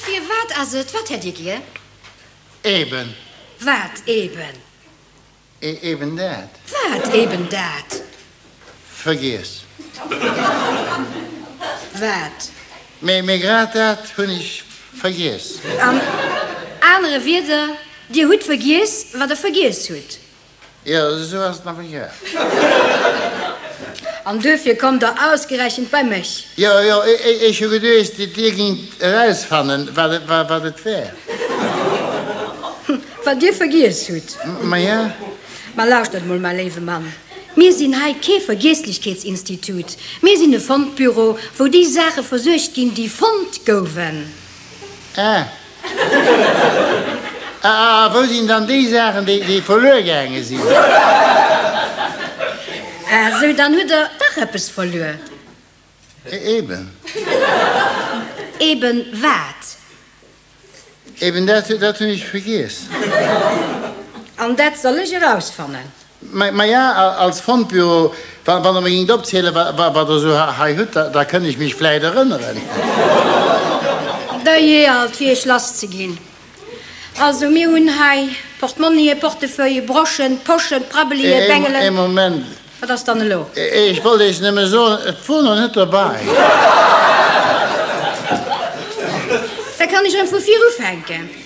Firwat ass et? Wat hätt Dir gär? Eben. Wat eben? E eben dat. Wat eben dat? Vergiess. Wat? Mee, mee grad dat hunn ech vergiess. An anere Wierder, Dir hutt vergiess, wat Der vergiess hutt. Jo, esou ass et awer gär. An duerfir kommt Der ausgerechent bei mech? Jo, jo, ech hu geduecht, Dir géingt erausfannen, wat et wär. Wat Dir vergiess hutt. Maja. Mä lauschtert emol, mäi léiwe Mann, mir sinn hei kee Vergiesslechkeetsinstitut. Mir sinn e Fondbüro, wou déi Saache versuergt ginn, déi fonnt gouwen. Ah, A wou sinn dann déi Saachen, déi verluer gaange sinn? A sou, dann hutt Der dach eppes verluer. Eben. Eben wat? Eben dat, dat hunn ech vergiess. An dat soll ech erausfannen. Maja, als Fondbüro, wann Der mir géingt opzielen, wat Der esou hei hutt, da kënnt ech mech vläicht erënneren. Der jeealt, fir Iech lass ze ginn. Also, mir hunn hei Portmonnië, Portefeuille, Broschen, Poschen, Prabbelië, Bengelen. Ee Moment. Wat ass dann elo? Ech wollt Iech nëmme soen, et wor nach net dobäi. Da kann ech erëm vu vir ufänken.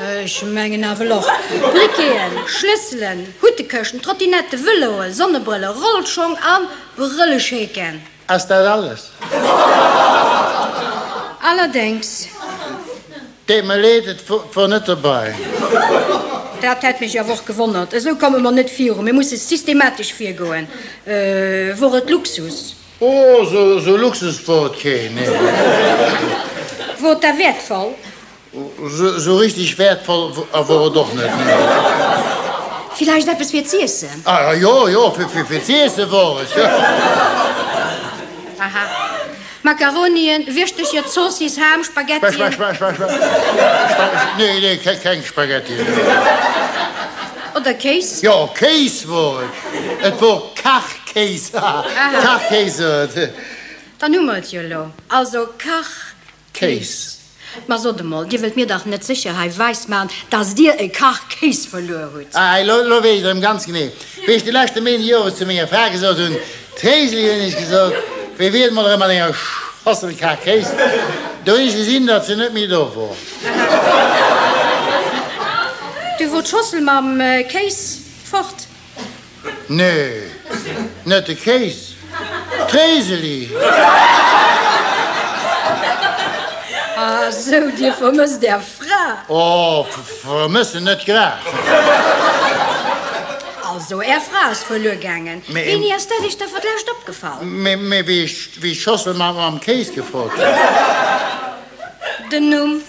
Ech mengen nawell och. Briqueten, Schlësselen, Huttekëschten, Trottinetten, Vëloen, Sonnebrëllen, Rollschong a Brëllescheken. Ass dat alles? Allerdéngs. Deet mer leed, et wor net dobei. Dat hätt mech awer och gewonnert. Esou komme mer net viru. Mir musse systematesch virgoen. Wor et Luxus? Oh, esou Luxus wor et keen, nee. Wor et da wäertvoll? Sou richteg wäertvoll wor et och net, nee. Villäicht eppes fir z'iessen? Ah jo, jo, fir z'iessen wor et, jo. Aha. Makaronien, Wirschtecher, Zoossiss, Ham, Spaghettien. Nee, nee, keng Spaghettien, nee. Oder Kéis? Jo, Kéis wor et. Et wor Kachkéis, haha, Kachkéis. Dann hu mer et jo elo. Also Kach, Kéis. Ma sot emol, Dir wëllt mir dach net sécher hei wäismaachen, dass Dir e Kach Kéis verluer hutt? Ah, elo, elo weess ech et erëm ganz genee. Wéi ech de leschte Méinden Jores zu menger Fra gesot hunn, D'Héiseli, hunn ech gesot, wéi wier et mol erëm mat enger Schossel Kach Kéis? Do hunn ech gesinn, datt se net méi do wor. Du wor d'Schossel mam Kéis fort. Nee, net de Kéis, d'Réiseli! Ah sou, Dir vermësst Är Fra? Oh, vermëssen net grad. Also, Är Fra ass verluer gaangen. Wéini ass dat Iech da fir d'lescht opgefall? Mee wéi ech d'Schossel mam Kéis gefrot hunn. Den Numm?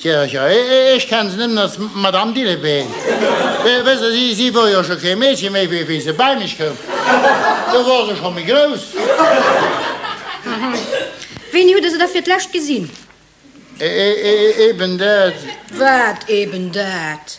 Tja, tja, ech kenne se nëmmen als Madame Dillebeen. Wësst Der, si wor jo scho kee Meedche méi, wéi se bäi mech koum. Do wor se scho méi grouss. Aha. Wéini hutt Der se da fir d'lescht gesinn? Eben dat. Wat eben dat?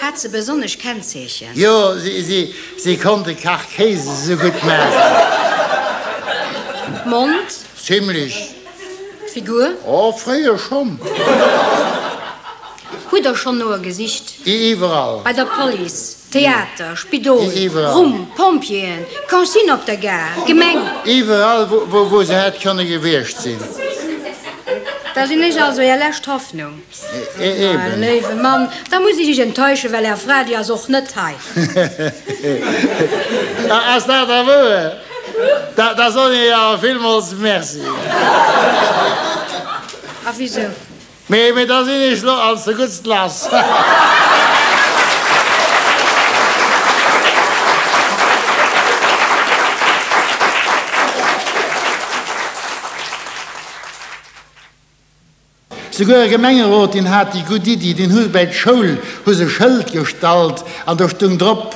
Hat se besonnesch Kennzeechen? Jo, si konnt de Kach Kéis esou gutt maachen. Mond? Zimmlech. Figur? Oh, fréier schonn. Hutt Der schonn no e gesicht? Iwwerall. Bei der Police, Theater, Spidol, Rumm, Pompjeeën, Consigne op der Gare, Gemeng? Iwwerall, wou se hätt kënne gewiescht sinn. Da sinn ech also Är lescht Hoffnung. Mäin léiwe Mann, da muss ech Iech enttäuschen, well Är Fra, déi ass och net hei. Hehe. Ass dat da wouer? Da soen ech Iech awer villmools Merci. A wisou? Mee da sinn ech lo als de Guttst lass. Souguer e Gemengerot, deen hat déi gutt Iddi, deen hu bäi d'Schoul hu se e Schëld gestallt an do stung drop,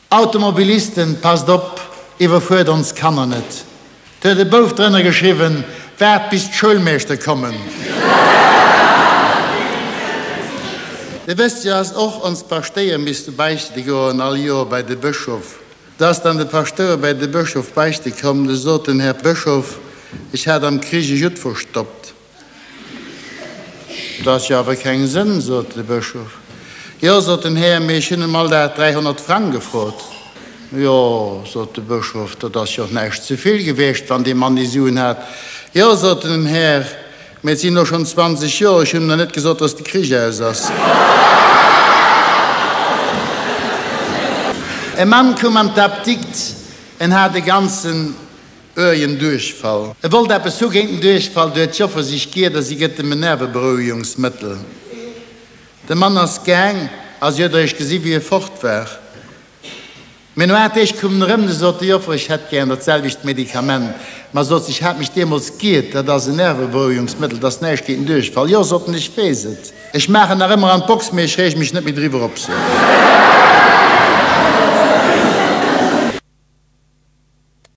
Automobilisten, passt op, iwwerfuert ons Kanner net. Do huet e Bouf drënner geschriwwen, waart bis d'Schoulmeeschter kommen. Dir wësst jo, dass och ons Paschtéier misste beichte goen all Joer bei de Bëschof. Da ass dann de Paschtouer bäi de Bëschof beichte komm, de sot en, Här Bëschof, ech hat am Krich e Judd verstoppt. Dat ass jo awer keng Sënn, sot de Bëschof. Jo, sot den Här, mee ech hunn em all Dag 300 Frang gefrot. Jo, sot de Bëschof, dat ass jo och näischt ze vill gewiescht, wann dee Mann déi Suen hat. Jo, sot en, den Här, Mä et sinn elo schonn 20 Joer. Ech hunn nach net gesot, dass de Krich aus ass. E Mann koum an d'Apdikt. En hat e ganzen ërgen Duerchfall. E wollt eppes hu géint den Duerchfall. Du huet d'Joffer sech giert a si gëtt em en Nerveberouegungsmëttel. De Mann ass gaang a si huet eréischt gesi wéi e fort war. Mee no 8 Deeg koum en erëm, du sot de Joffer, ech hätt gären dat selwecht Medikament. Ma sot se, ech hat mech deemools giirt, dat ass en Nerveberouegungsmëttel, et ass näischt géint en Duerchfall. Jo, sot en, ech weess et, ech maachen nach ëmmer an d'Box, mee ech reege mech net méi driwwer op. Sot.